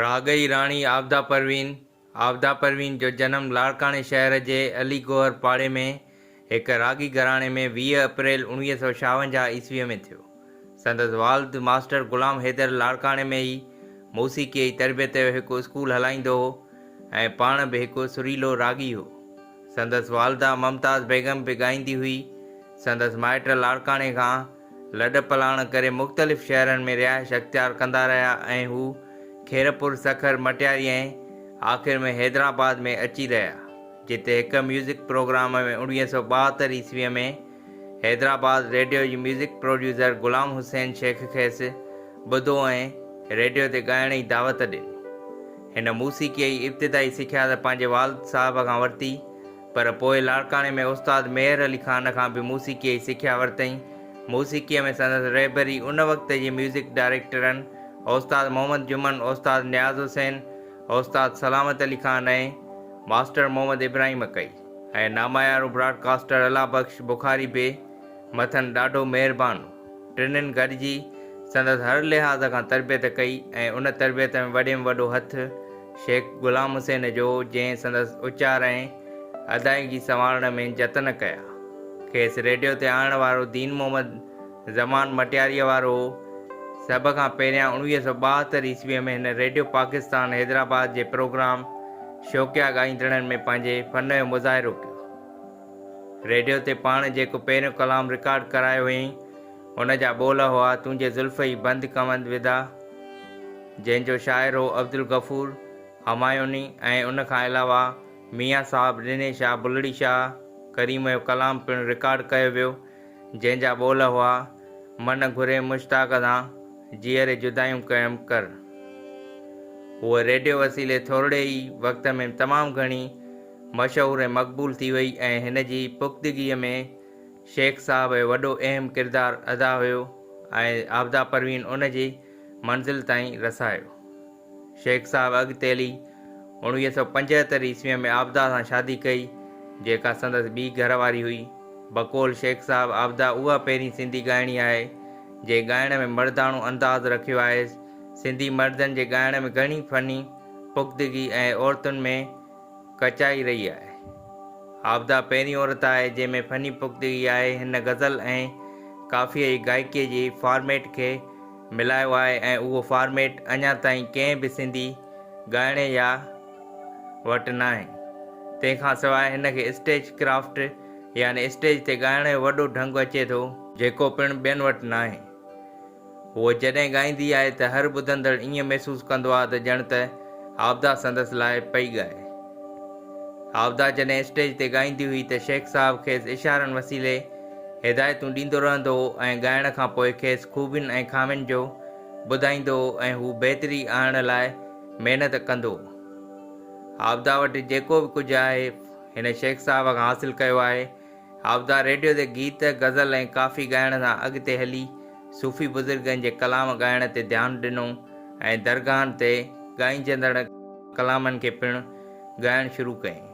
راڳئي راڻي عابده پروين، عابده پروين جو جنم لاڙڪاڻي شهر جي علي گوهر پاڙي ۾ هڪ راڳي گهراڻي ۾ ويهه اپريل اڻويهه سؤ شاونجاهه عيسويء ۾ ٿيو. سندس والد ماسٽر غلام حيدر لاڙڪاڻي ۾ ئي موسيقيء جي تربيت جو هڪ اسڪول هلائيندو هو ۽ پاڻ به هڪ سريلو راڳي هو. سندس والده ممتاز بيگم به ڳائيندي هئي. سندس مائٽ لاڙڪاڻي کان لڏپلاڻ ڪري مختلف شهرن ۾ رهائش اختيار ڪندا رهيا ۽ هو خيرپور، سکر، مٽياري ۽ آخر ۾ حيدرآباد ۾ اچي رهيا، جتي هڪ ميوزڪ پروگرام ۾ اوڻويهه سؤ ٻاهتر عيسويء ۾ حيدرآباد ريڊيو جي ميوزڪ پروڊيوسر غلام حسين شيخ کيس ٻڌو ۽ ريڊيو تي ڳائڻ جي دعوت ڏني. هن موسيقيء جي ابتدائي سکيا ته پنهنجي والد صاحب کان ورتي، پر پوء لاڙڪاڻي ۾ استاد ميهر علي خان کان به موسيقيء جي سکيا ورتئين. موسيقيء ۾ سندس رهبري ان وقت جي ميوزڪ ڊائريڪٽرن استاد محمد جمن، استاد نياز حسين، استاد سلامت علي خان ۽ ماسٽر محمد ابراهيم ڪئي ۽ ناميارو براڊڪاسٽر الله بخش بخاري به مٿن ڏاڍو مهربان هو. ٽنھين گڏجي سندس ھر لحاظ کان تربيت ڪئي ۽ ان تربيت ۾ وڏي ۾ وڏو ھٿ شيخ غلام حسين جو ھو جنھن سندس اچار ۽ ادائگي سنوارڻ ۾ جتن ڪيا. کيس ريڊيو تي آڻڻ وارو دين محمد زمان مٽياريء وارو ھو. سڀ کان پھريان اڻويھه سؤ ٻاهتر عيسويء ۾ ھن ريڊيو پاڪستان حيدرآباد جي پروگرام شوقيا ڳائيندڙن ۾ پنھنجي فن جو مظاھرو ڪيو. ريڊيو تي پاڻ جيڪو پهريون ڪلام رڪارڊ ڪرايو هئين، ان جا ٻول هئا، تنهنجي زلف ئي بند ڪوند ودا، جنهن جو شاعر هو عبدالغفور همايوني ۽ ان کان علاوه ميان صاحب ڏني شاهه بلڙي شاهه ڪريم جو ڪلام پڻ رڪارڊ ڪيو ويو، جنهن جا ٻول هئا، من گهري مشتاق دان، جيئري جدايون قيم ڪر. هوء ريڊيو وسيلي ٿورڙي ئي وقت ۾ تمام گهڻي. مشهور ۽ مقبول ٿي وئي ۽ هن جي پختگيء ۾ شيخ صاحب جو وڏو اهم ڪردار ادا هيو ۽ عابده پروين ان جي منزل تائين رسايو. شيخ صاحب اڳتيلي اوڻويهه سؤ پنجهتر عيسويء ۾ عابده سان شادي ڪئي، جيڪا سندس ٻي گهر واري هئي. بقول شيخ صاحب عابده اها پهرين سنڌي ڳائڻي آهي، جنهن ڳائڻ ۾ مرداڻو انداز رکيو آهيس. سنڌي مردن جي ڳائڻ ۾ گهڻي فني پختگي ۽ عورتن ۾ ڪچائي رهي آهي. عابده پهرين عورت آهي جنهن ۾ فني پختگي آهي، هن غزل ۽ ڪافيء جي گائڪيء جي فارميٽ کي ملايو آهي ۽ اهو فارميٽ اڃا تائين ڪنهن به سنڌي ڳائڻي يا وٽ ناهي. تنهن کان سواء هن کي اسٽيج ڪرافٽ يعني اسٽيج تي ڳائڻ جو وڏو ڍنگ اچي ٿو، جيڪو پڻ ٻين وٽ ناهي هوء جڏهن ڳائيندي آهي ته هر ٻڌندڙ ائين محسوس ڪندو آهي ته ڄڻ ته عابده سندس لاء پئي ڳائي. عابده جڏهن اسٽيج تي ڳائيندي هئي ته شيخ صاحب کيس اشارن وسيلي هدايتون ڏيندو رهندو هو ۽ ڳائڻ کان پوء کيس خوبين ۽ خامين جو ٻڌائيندو هو ۽ هو بهتري آڻڻ لاء محنت ڪندو هو. عابده وٽ جيڪو به ڪجهه آهي هن شيخ صاحب کان حاصل ڪيو آهي. هاودا ريڊيو تي گيت، غزل ۽ ڪافي ڳائڻ سان اڳتي هلي صوفي بزرگن جي ڪلام ڳائڻ تي ڌيان ڏنو ۽ درگاهن تي ڳائنجندڙ ڪلامن کي پڻ ڳائڻ شروع ڪيائين.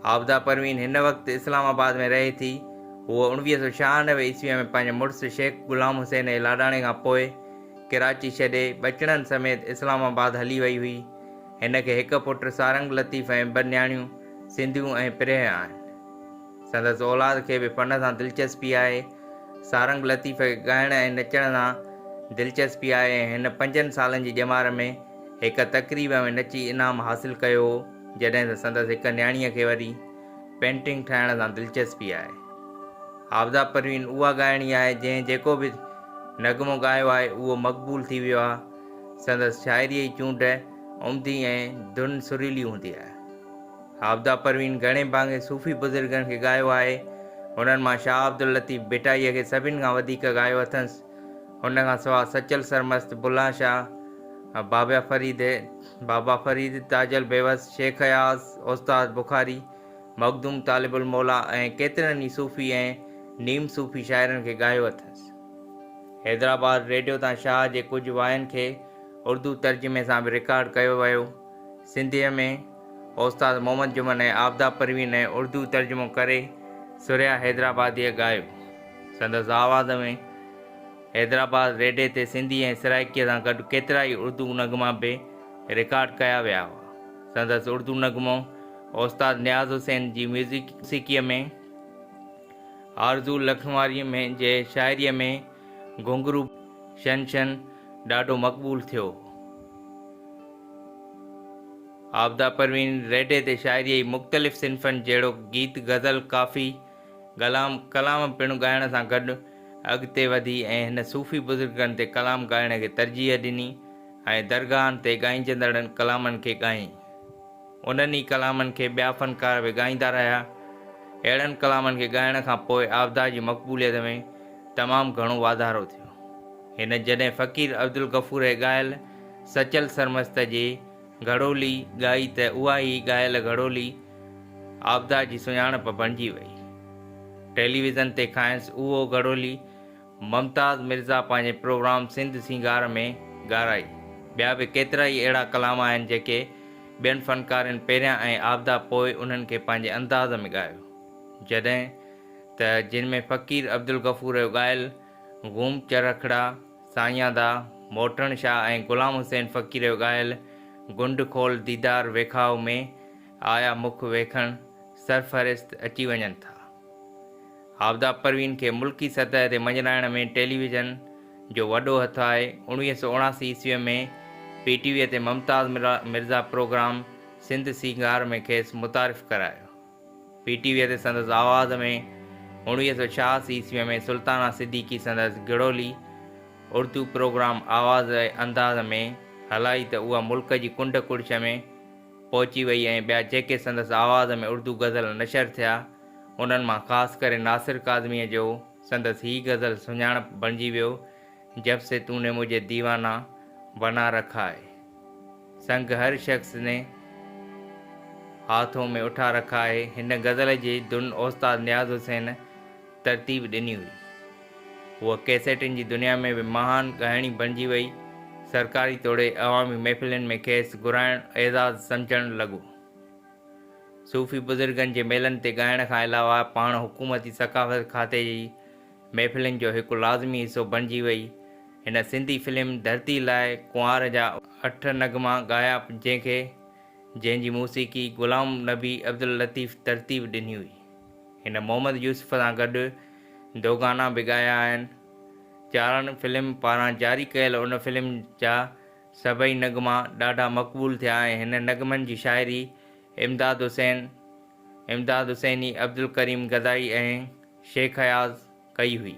هاودا پروين هن وقت اسلام آباد ۾ رهي ٿي. هوء اوڻويهه سؤ ڇهانوي عيسويء ۾ پنهنجي مڙس شيخ غلام حسين اي لاڏاڻي کان پوء ڪراچي ڇڏي ٻچڙن سميت اسلام آباد هلي وئي هئي. هن کي هڪ پٽ سارنگ لطيف ۽ ٻه نياڻيون سنڌيون ۽ پريهه آهن. سندس اولاد کي به فن سان دلچسپي آهي. سارنگ لطيف کي ڳائڻ ۽ نچڻ سان دلچسپي آهي ۽ هن پنجن سالن جي ڄمار ۾ هڪ تقريب ۾ نچي انعام حاصل ڪيو هو، جڏهن ته سندس هڪ نياڻيء کي وري پينٽنگ ٺاهڻ سان دلچسپي آهي. عابده پروين اها ڳائڻي آهي، جنهن جيڪو به نغمو ڳايو آهي، اهو مقبول ٿي ويو آهي. سندس شاعريء جي چونڊ عمدي ۽ ڌن سريلي هوندي آهي. عابده پروين گهڻي ڀاڱي صوفي بزرگن کي ڳايو آهي. هنن مان شاهه عبداللطيف ڀٽائيء کي سڀن کان وڌيڪ ڳايو اٿس. هن کان سواء سچل سرمست، بلان شاهه، بابا فريد، بابا فريد، تاج البيوس، شيخ اياز، استاد بخاري، مخدوم طالب الموليٰ ۽ ڪيترن ئي صوفي ۽ نيم صوفي شاعرن کي ڳايو اٿس. حيدرآباد ريڊيو تان شاهه جي ڪجهه واين کي اردو ترجمي سان به رڪارڊ ڪيو ويو. سنڌيء ۾ اوستاد محمد جمن ۽ آفتاب پروين ۽ اردو ترجمو ڪري ثريا حيدرآباديء ڳايو. سندس آواز ۾ حيدرآباد ريڊي تي سنڌي ۽ سرائڪيء سان گڏ ڪيترا ئي اردو نغما به رڪارڊ ڪيا ويا هئا. سندس اردو نغمو اوستاد نياز حسين جي ميوزڪ موسيقيء ۾. آرزو لکنواريء ۾ جي شاعريء ۾ گهنگهرو شن شن ڏاڍو مقبول ٿيو. عابده پروين ريڍي تي شاعريء جي مختلف صنفن جهڙوڪ گيت، غزل، ڪافي، گلام، ڪلام پڻ ڳائڻ سان گڏ اڳتي وڌي ۽ هن صوفي بزرگن تي ڪلام ڳائڻ کي ترجيح ڏني ۽ درگاهن تي ڳائنجندڙن ڪلامن کي ڳائين. انهن ئي ڪلامن کي ٻيا فنڪار به ڳائيندا رهيا. اهڙن ڪلامن کي ڳائڻ کان پوء عابده جي مقبوليت ۾ تمام گهڻو واڌارو ٿيو. هن جڏهن فقير عبدالغفور هي ڳايل سچل سرمست جي گهڙولي ڳائي ته اها هي ڳايل گهڙولي عابده جي سڃاڻپ بڻجي وئي. ٽيليويزن تي کانئس اهو گهڙولي ممتاز مرزا پنهنجي پروگرام سنڌ سينگار ۾ ڳارائي. ٻيا به ڪيترا ئي اهڙا ڪلام آهن جيڪي ٻين فنڪارين پهريان ۽ عابده پوء انهن کي پنهنجي انداز ۾ ڳايو. جڏهن ته جن ۾ فقير عبدالغفور جو ڳايل غوم چرخڙا، سائيندا، موٽڻ شاهه ۽ غلام حسين فقير جو ڳايل گنڊ کول ديدار ويکاهه ۾ آيا مک ويکڻ سرفهرست اچي وڃن ٿا. آفتاب پروين کي ملڪي سطح تي مڃرائڻ ۾ ٽيلي ويزن جو وڏو هٿ آهي. اوڻويهه سؤ اڻاسي عيسويء ۾ پي ٽي ويء تي ممتاز مرزا پروگرام سنڌ سينگار ۾ کيس متعارف ڪرايو. پي ٽي ويء تي سندس آواز ۾ اوڻويهه سؤ ڇهاسي عيسويء ۾ سلطانه صديقي سندس گهڙولي اردو پروگرام آواز انداز ۾ هلائي ته اها ملڪ جي ڪنڊ ڪڙڇ ۾ پهچي وئي ۽ ٻيا جيڪي سندس آواز ۾ اردو غزل نشر ٿيا، انهن مان خاص ڪري ناصر ڪاظميء جو سندس هي غزل سڃاڻپ بڻجي ويو، جب سي تون ني مجهي ديوانا بنا رکا هي، سنگ هر شخص ني هاٿون ۾ اٺا رکا هي، هن غزل جي ڌن استاد نياز حسين، ترتيب ڏني هئي. هوء ڪيسيٽن جي دنيا ۾ به مهان ڳائڻي بڻجي ويئي. سرڪاري توڙي عوامي محفلين ۾ کيس گهرائڻ اعزاز سمجهڻ لڳو. صوفي بزرگن جي ميلن تي ڳائڻ کان علاوه پاڻ حڪومتي ثقافت کاتي جي محفلن جو هڪ لازمي حصو بڻجي ويئي. هن سنڌي فلم ڌرتي لاء ڪنوار جا اٺ نغما ڳايا جنهن کي جنهن جي موسيقي غلام نبي عبداللطيف ترتيب ڏني هئي. هن محمد يوسف سان گڏ دو گانا به ڳايا آهن. چارڻ فلم پاران جاري ڪيل ان فلم جا سڀئي نغما ڏاڍا مقبول ٿيا ۽ هن نغمن جي شاعري امداد حسين، امداد حسيني، عبدالڪريم گدائي ۽ شيخ اياز ڪئي هئي.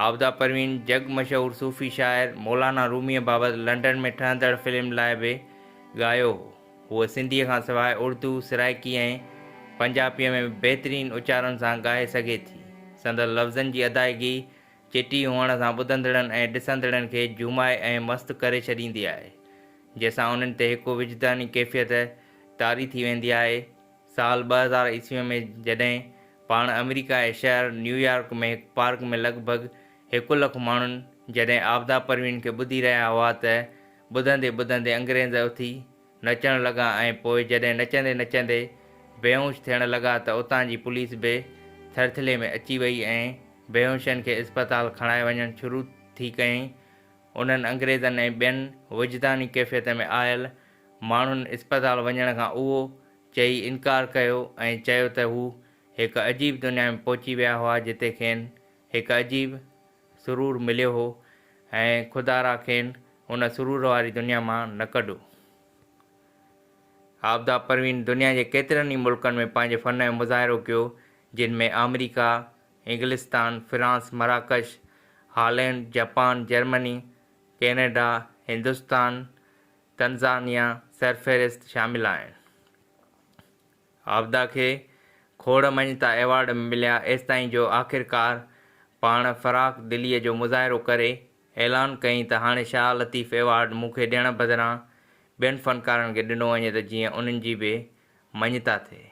عابده پروين جڳ مشهور صوفي شاعر مولانا روميء بابت لنڊن ۾ ٺهندڙ فلم لاء به ڳايو هو. هوء سنڌيء کان سواء اردو، سرائڪي ۽ پنجاپيء ۾ به بهترين اچارن سان ڳائي سگهي ٿي. سندس لفظن جي ادائگي چٽي هئڻ سان ٻڌندڙن ۽ ڏسندڙن کي جهومائي ۽ مست ڪري ڇڏيندي آهي، جنهن سان انهن تي هڪ وجداني ڪيفيت طاري ٿي ويندي آهي. سال ٻه هزار عيسويء ۾ جڏهن پاڻ آمريڪا جي شهر نيويارڪ ۾ هڪ پارڪ ۾ لڳ ڀڳ هڪ لک ماڻهن جڏهن عابده پروين کي ٻڌي رهيا هئا ته ٻڌندي ٻڌندي انگريز اٿي نچڻ لڳا ۽ پوء جڏهن نچندي نچندي بيهوش ٿيڻ لڳا ته اتان جي پوليس به ٿرٿلي ۾ اچي وئي ۽ بيهوشن کي اسپتال کڻائي وڃڻ شروع ٿي ڪيائين. انهن انگريزن ۽ ٻين وجداني ڪيفيت ۾ آيل ماڻهن اسپتال وڃڻ کان اهو چئي انڪار ڪيو ۽ چيو ته هو هڪ عجيب دنيا ۾ پهچي ويا هئا جتي کين هڪ عجيب سرور مليو هو ۽ خدارا کين ان سرور واري دنيا مان نه ڪڍو. عابده پروين دنيا جي ڪيترن ئي ملڪن ۾ پنهنجي فن جو مظاهرو ڪيو جن ۾ آمريڪا، انگلستان، فرانس، مراڪش، Holland, Japan, Germany, Canada, Hindustan, Tanzania سرفهرست شامل آهن. عابده کي کوڙ مڃتا ايوارڊ مليا ايستائين جو آخرڪار پاڻ فراخ دليء جو مظاهرو ڪري اعلان ڪيائين ته هاڻي شاهه لطيف ايوارڊ مون کي ڏيڻ بدران ٻين فنڪارن کي ڏنو وڃي ته جيئن انهن جي به مڃتا ٿئي.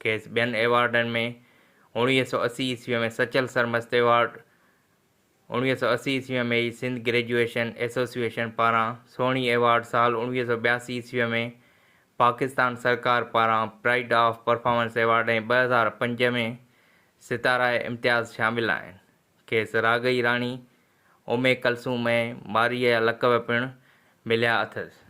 کيس ٻين ايوارڊن ۾ اڻويهه سؤ اسي عيسويء ۾ سچل سرمست ايوارڊ، اوڻويهه سؤ اسي عيسويء ۾ ئي سنڌ گريجوئيشن ايسوسيئيشن پاران سهڻي ايوارڊ سال اوڻويهه سؤ ٻياسي عيسويء ۾ پاڪستان سرڪار پاران پرائيڊ آف پرفارمنس ايوارڊ ۽ ٻه هزار پنج ۾ ستاره امتياز شامل آهن. کيس راڳئي راڻي امي ڪلثوم ۽ مارئي جا لقب پڻ مليا اٿس.